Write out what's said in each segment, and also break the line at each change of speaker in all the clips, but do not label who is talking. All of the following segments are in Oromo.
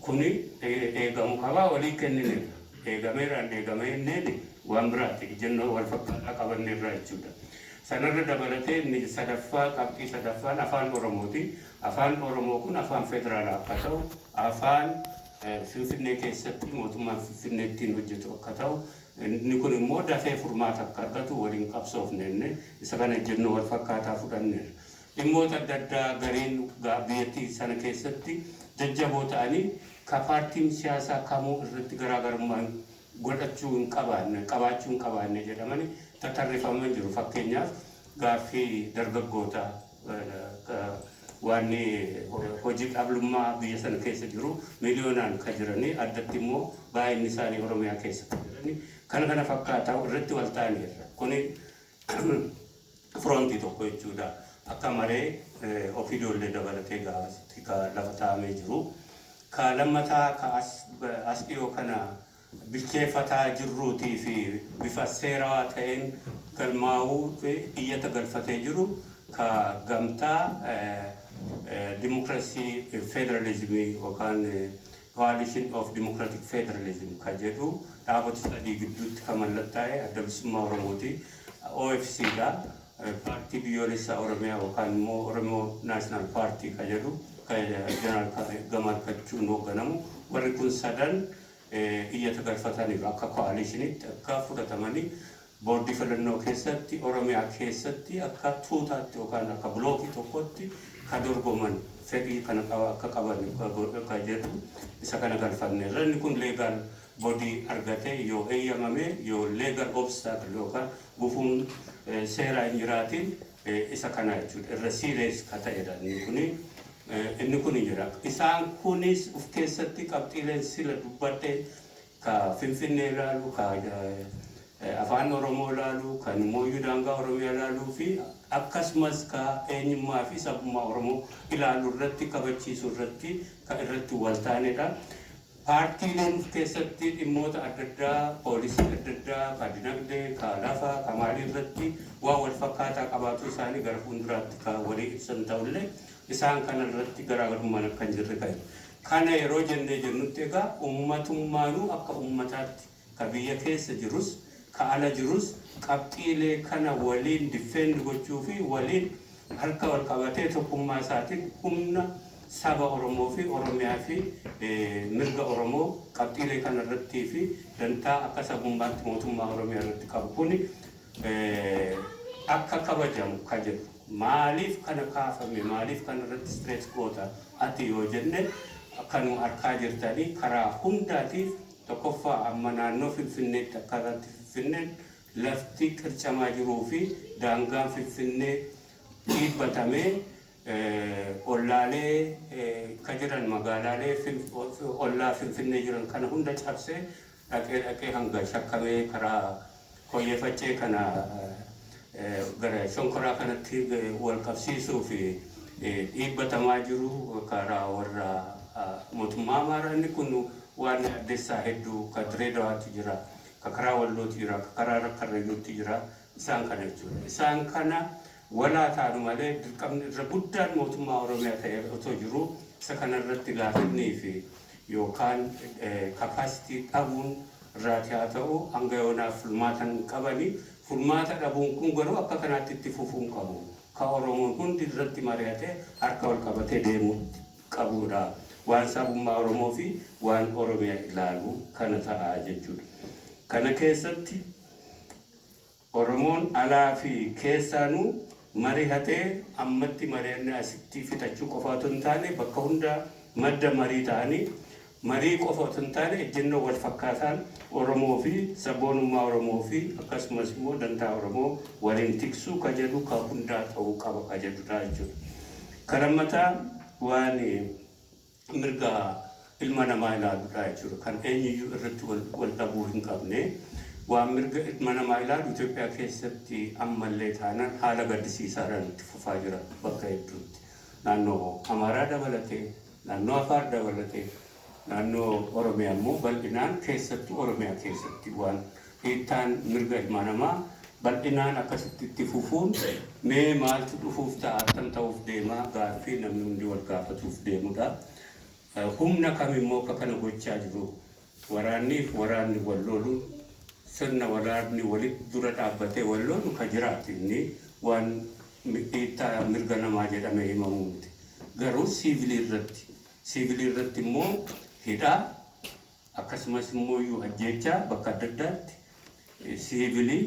Kuni eegamu qabaa walii kennineerra. Eegameera hin eegame jenneen waan biraati. Ijjannoo wal fakkaataa qabanneerra jechuudha. Sanarra dabalatee inni sadaffaa qabxii sadaffaan Afaan Oromooti. Afaan Oromoo kun Afaan Federaalaa akka ta'u, Afaan Finfinnee keessatti mootummaan Finfinnee ittiin hojjetu akka ta'u, inni kun immoo dafee furmaata akka argatu waliin qabsoofne jennee isa kana ijjannoo wal fakkaataa fudhanneerra. Dhimmoota adda addaa gareen biyyattii sana keessatti jajjaboo ta'anii ka paartiin siyaasaa kamuu irratti garaagarummaa godhachuu hin qabaanne, qabaachuu hin qabaanne jedhamani tatarrifaman jiru. Fakkeenyaaf gaaffii dargaggoota ka waanni hojii dhablummaa biyya sana keessa jiru miliyoonaan ka jiranii addatti immoo baay'inni isaanii Oromiyaa keessa ka jiranii kana kana fakkaata irratti wal taaneerra. Kuni Front tokko jechuudha. Akka maree Opdo illee dabalatee gaafasitti ka lafa taa'amee jiru. Ka lammataa ka as as dhiyoo kana bilcheeffataa jirruutii fi bifa seerawaa ta'een galmaa'uu fi iyyata galfatee jiru ka gamtaa eh, eh, dimokiraasii eh, federalizimii yookaan eh, Coalition of Democratic Federalism ka jedhu dhaabota sadii gidduutti ka mallattaa'e Adda Bilisummaa Oromooti. OFC dha. Paartii Biyyoolessaa Oromiyaa yookaan immoo Oromo National Party ka jedhu ka Jeneraal Gamaal Kachuun hoogganamu. Warri kun sadan iyyata galfataniiru akka coalition tti akka fudhatamanii Boordii Filannoo keessatti Oromiyaa keessatti akka tuutaatti yookaan akka blookii tokkotti ka dorgoman fedhii kana qaba akka qaban godha ka jedhu isa kana galfanneerra. Inni kun legal body argatee yoo heyyamamee yoo legal obstacle yookaan gufuun seeraa hin jiraatiin isa kanaa jechuudha. Irra serious ka ta'edha inni kuni. Inni kuni jira. Isaan kunis uf keessatti qabxiileen sila dubbadheen ka Finfinnee laalu, ka Afaan Oromoo laalu, ka Mooyyuu daangaa Oromiyaa laaluu fi akkasumas ka eenyummaa fi sabummaa Oromoo ilaalu irratti kabachiisuu irratti ka irratti wal taane dha. Paartiileen of keessatti dhimmoota adda addaa, poolisii adda addaa, ka dinagdee, ka lafaa, ka maalii irratti waan wal fakkaataa qabaatuu isaanii gara fuulduraatti ka walii ibsan ta'u illee isaan kana irratti garaagarummaan akka hin jirre ka Kana yeroo jennee jennutti egaa ummatummaanuu akka ummataatti ka biyya keessa jirus ka ala jirus qabxiilee kana waliin defend gochuu fi waliin harka wal qabatee tokkummaa isaatiin humna saba Oromoo fi Oromiyaa fi mirga Oromoo qabxiilee kana irrattii fi dantaa akka sabummaatti mootummaa Oromiyaa irratti qabu kuni akka kabajamu ka jedhu maaliif kana kaafame maaliif kana irratti stress goota ati yoo jenne akkanuma arkaa jirtanii karaa hundaatiif tokkoffaa amma naannoo finfinneetti akka irratti finfinneen lafti qircamaa jiruu fi daangaan finfinnee dhiibbatamee ollaalee ka jiran magaalaalee ollaa finfinnee jiran kana hunda cabsee dhaqee dhaqee hanga shakkamee karaa Koyyee Faccee kana gara Shonkoraa kanatti wal qabsiisuuf dhiibbatamaa jiru karaa warra mootummaa Amaaraa inni kun waan yaaddessaa hedduu ka Direedawaatti jira, ka karaa Wallootti jira, ka karaa Karrayyuutti jira isaan kana jechuudha. Isaan kana Wal haa taanu malee dirqamni irra guddaan mootummaa Oromiyaa ta'ee irra otoo jiruu isa kana irratti laafinnii fi yookaan capacity dhabuun irraati haa ta'u hanga yoonaa furmaata hin qabani. Furmaata dhabuun kun garuu akka kanaatti itti fufuu hin qabu. Ka Oromoon hundi irratti mari'atee harka wal qabatee deemuu qabuu dha. Waan sabummaa Oromoo fi waan Oromiyaa ilaalu kana ta'a jechuu dha. Kana keessatti. Oromoon alaa fi keessaanu marihatee ammatti marianne asitti fixachuu qofaa otu hin taane bakka hunda madda marii ta'anii marii qofa otu hin taane ejjennoo wal fakkaataan Oromoo fi sabboonummaa Oromoo fi akkasumas immoo dantaa Oromoo waliin tiksuu ka jedhu ka hundaa ta'uu qaba ka jedhu dha jechuudha. Ka lammataa waan mirga ilma namaa ilaaludha jechuudha. Kan eenyuyyuu irratti wal dhabuu hin qabne. Waan mirga ilma namaa ilaalu Itoophiyaa keessatti ammallee taanaan haala gaddisiisaadhaan itti fufaa jira bakka hedduutti. Naannoo Amaaraa dabalatee, naannoo Afaar dabalatee, naannoo Oromiyaa immoo bal'inaan keessattuu Oromiyaa keessatti waan Dhiittaan mirga ilmaa namaa bal'inaan akkasitti itti fufuun mee maaltu dhufuuf ta'a, attam ta'uuf deema gaaffii namni hundi wal gaafatuuf deemudha. Humna kami immoo akka kana gochaa jiru? Waraannii fi waraanni wal looluun sirna waraanni walitti dura dhaabbatee wal loolu ka jiraatu inni waan dhiittaa mirga namaa jedhamee himamu miti. Garuu siivilii irratti siivilii irratti immoo hidhaa, Akkasumas immooyyuu ajjeechaa bakka adda addaatti siivilii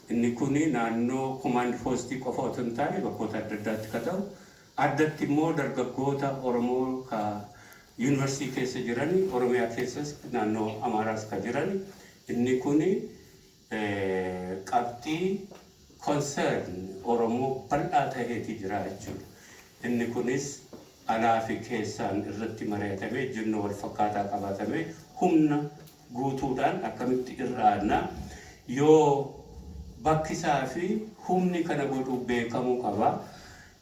inni kun naannoo komaand poostii qofa otoo hin taane bakkoota adda addaatti ka ta'u addatti immoo dargaggoota Oromoo ka Yuunivarsiitii keessa jirani Oromiyaa keessas naannoo Amaaraas ka jirani inni kun qabxii, concern, Oromoo bal'aa taheeti jira jechuu dha. Inni kunis alaa fi keessaan irratti mari'atamee ejjennoo wal fakkaataa qabaatamee humna guutuu dhaan akkamitti irra aanna yoo bakki isaa fi humni kana godhu beekamuu qaba.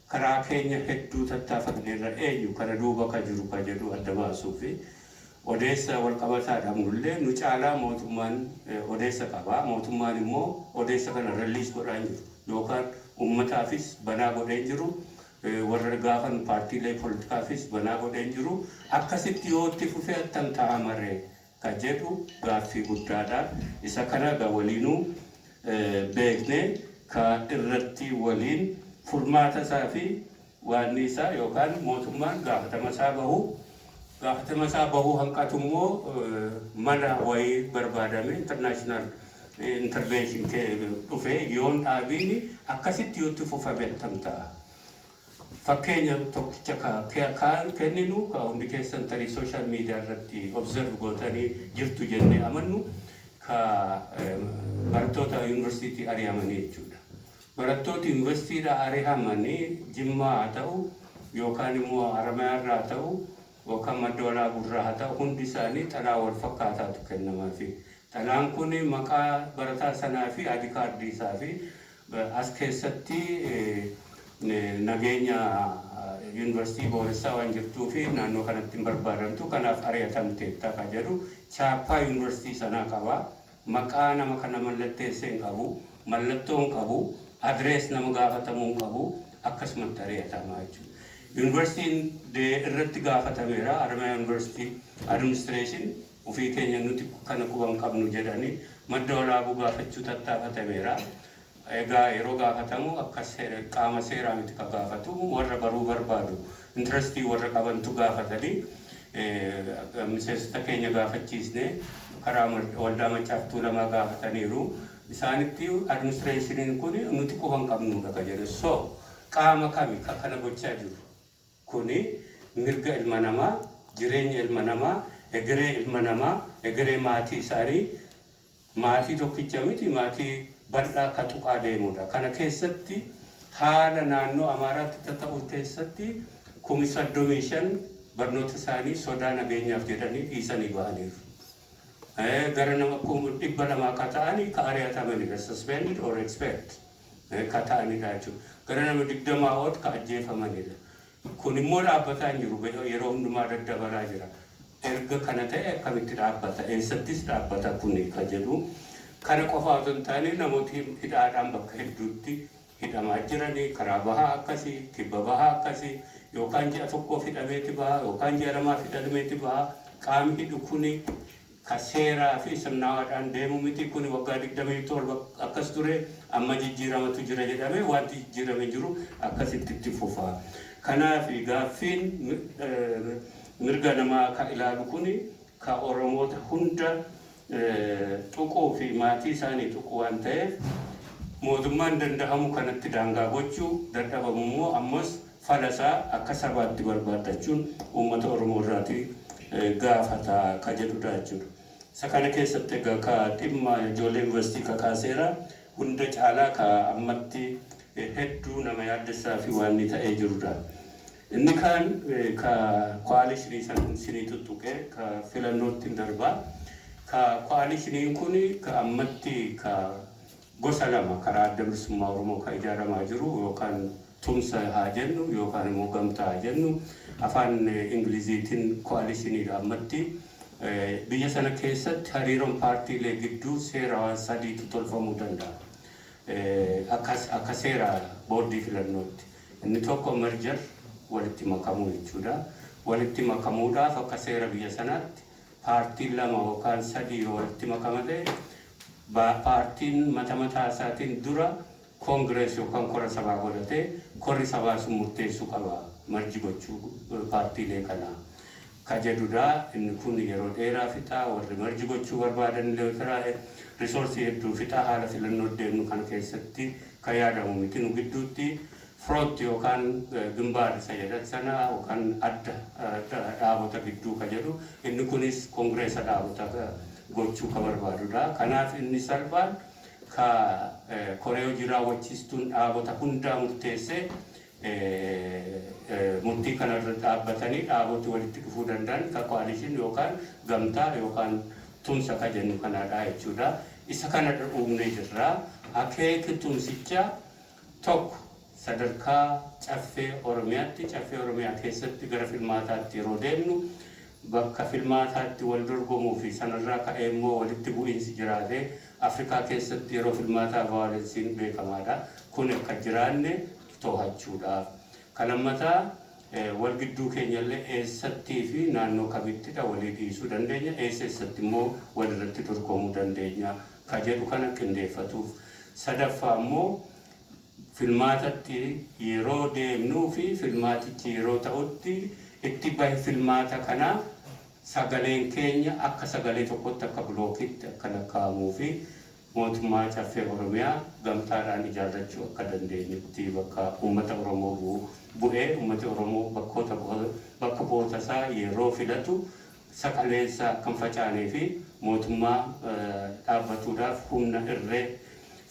Karaa keenya hedduu tattaafanneerra eenyu kana duuba ka jiru ka jedhu adda baasuufi. Odeessa walqabataa dhabnullee nu caalaa mootummaan odeessa qaba. Mootummaan immoo odeessa kana release godhaa hin jiru. Yookaan ummataafis banaa godhee hin jiru. Warra gaafan paartiilee politikaafis banaa godhee hin jiru. Akkasitti yoo itti fufe attam ta'a maree? ka jedhu gaaffii guddaa dha. Isa kana egaa waliinuu beeknee ka irratti waliin furmaata isaa fi waannii isaa yookaan mootummaan gaafatama isaa bahu, gaafatama isaa bahuu hanqatu immoo mala wayii barbaadamee international intervention dhufee yoon dhaabiin akkasitti yoo itti fufame attam ta'a? Fakkeenya tokkicha ka kaan kenninu ka hundi keessan tarii social media irratti observe gootanii jirtu jennee amannu ka barattoota University ari'amanii jechuu dha. Barattooti University dhaa ari'aman Jimmaa haa ta'u yookaan immoo Haramayaa irraa haa ta'u yookaan Madda Walaabuu irraa haa ta'u hundi isaanii xalaa wal fakkaataatu kennamaafii. Xalaan kun maqaa barataa sanaa fi ID card isaa fi As keessatti nageenya Yuunivarsiitii booressaa waan jirtuuf naannoo kanatti hin barbaadamtu kanaaf ari'atamteetta kan jedhu chaappaa Yuunivarsiitii sanaa qaba. Maqaa nama kana mallatteesse hin qabu, mallattoo hin qabu, address nama gaafatamuu hin qabu, akkasumatti ari'atama jechuudha. Yuunivarsiitiin irratti gaafatameera, Haramaya University Administration. ofii keenya nuti kana quba hin qabnu jedhanii madda walaabuu gaafachuu tattaafatameera. Egaa yeroo gaafatamu akka qaama seeraa miti ka gaafatu warra baruu barbaadu intirestii warra qabantu gaafatanii miseensota keenya gaafachiisne karaa waldaa Maccaaf Tuulamaa gaafataniiru. Isaanitti administreeshiniin kun nuti quba hin qabnuudha ka jedhe. So qaama kami ka kana gochaa jiru? Kuni mirga ilma namaa, jireenya ilma namaa, egeree ilma namaa, egeree maatii isaanii, maatii tokkicha miti maatii bal'aa ka tuqaa deemudha. Kana keessatti haala naannoo Amaaraatti tata'uu keessatti kumi 35 barnoota isaanii sodaa nageenyaaf jedhanii dhiisanii bahaniiru. Gara nama kum 200 ka ta'ani ka ari'atamanidha, suspended or expelled. ka ta'anidha jechuudha. Gara nama 20 ol ka ajjeefamanidha. Kun immoo dhaabbataa hin jiru. Yeroo hundumaa daddabalaa jira. Erga kana ta'e akkamitti dhaabbata? Eessattis dhaabbata kuni ka jedhu. Kana qofaa otoo hin taane namooti hidhaadhaan bakka hedduutti hidhamaa jirani. Karaa bahaa akkasi, kibba bahaa akkasi. Yookaan ji'a tokkoof hidhameeti baha, yookaan ji'a lamaaf hidhameeti baha. Qaami hidhu kuni Ka seeraa fi sirnaawaadhaan deemu miti. Kuni waggaa 27 akkas ture, amma jijjiiramatu jira jedhame, wanti jijjiirame hin jiru, akkasitti itti fufa. Kanaaf gaaffiin mirga namaa ka ilaalu kuni ka Oromoota hunda tuquu fi maatii isaanii tuqu waan ta'eef, mootummaan dandahamu kanatti daangaa gochuu, dadhabamu immoo ammas fala isaa akka sabaatti barbaaddachuun uummata Oromoo irraati gaafata ka jedhu dha jechuu dha. Isa kana keessatti egaa ka dhimma ijoollee Yunivarsiitii kakaaseera. Hunda caalaa ka ammatti hedduu nama yaaddessaa fi waanni ta'ee jiru dha. Inni kaan ka coalition san isinii tuttuqe ka filannoottin darba. Ka coalition kun ka ammatti ka Gosa lama karaa Adda Bilisummaa Oromoo kan ijaaramaa jiru yookaan tumsa haa jennu yookaan immoo gamtaa haa jennu afaan Ingiliziitiin coalition dha ammatti. Biyya sana keessatti hariiroon paartiilee gidduu seera waan sadiitu tolfamuu danda'a. Akka akka seera boordii filannootti. Inni tokko merger walitti makamuu jechuudha. Walitti makamuudhaaf akka seera biyya sanaatti paartiin lama yookaan sadii yoo walitti makama ta'e paartiin mata mataa isaatiin dura congress yookaan kora sabaa godhatee korri sabaa sun murteessuu qaba merge gochuu paartiilee kanaa ka jedhudha. Inni kun yeroo dheeraa fixa. Warri merge gochuu barbaadan illee jira. Resource hedduu fixa. Haala filannoo deemnu kana keessatti ka yaadamu miti nu gidduutti. Front yookaan Gimbaar isa jedhan sana yookaan Adda Dhaabota Gidduu ka jedhu inni kunis Kongireesa Dhaabota gochuu ka barbaadu dha. Kanaaf inni salphaan ka Koree Hojii Raawwachiistuun Dhaabota hundaa murteessee murtii kana irra dhaabbatanii dhaaboti walitti dhufuu danda'an ka Coalition yookaan Gamtaa yookaan Tumsa ka jennu kana dha jechuu dha. Isa kana dha uumnee jirra. Akeeki tumsichaa 1, Sadarkaa Caffee Oromiyaatti Caffee Oromiyaa keessatti gara filmaataatti yeroo deemnu bakka filmaataatti wal dorgomuu fi sanarraa ka'ee immoo walitti bu'iinsi jiraatee Afrikaa keessatti yeroo filmaataa vaayolensiin beekamaadha. Kuni akka hin jiraanne toohachuudha. Ka lammataa wal gidduu keenyallee eessattii fi naannoo kamittidha walii dhiisuu dandeenya, eessa eessatti immoo wal irratti dorgomuu dandeenya ka jedhu kana qindeeffatuuf. Sadaffaa immoo filmaatatti yeroo deemnuu fi filmaatichi yeroo ta'utti itti bahi filmaata kanaa sagaleen keenya akka sagalee tokkotti akka bilookiitti akka lakkaa'amuu fi mootummaa Caffee Oromiyaa gamtaadhaan ijaarrachuu akka dandeenyutti bakka uummata Oromoo bu'u bu'ee uummati Oromoo bakkoota bakka bu'oota isaa yeroo filatu saqaleessa akka hin facaanee fi mootummaa dhaabbatuudhaaf humna irree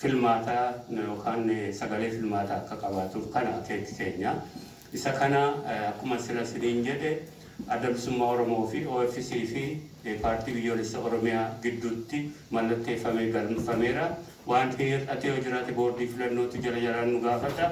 filmaataa yookaan sagalee filmaataa akka qabaatuuf kana akeeki keenya. Isa kana akkuma sila siniin jedhe Adda Bilisummaa Oromoo fi OFC fi Paartii Biyyoolessa Oromiyaa gidduutti mallatteeffamee galmfameera. Waanti hir'ate yoo jiraate boordii filannootu jala jalaan nu gaafata.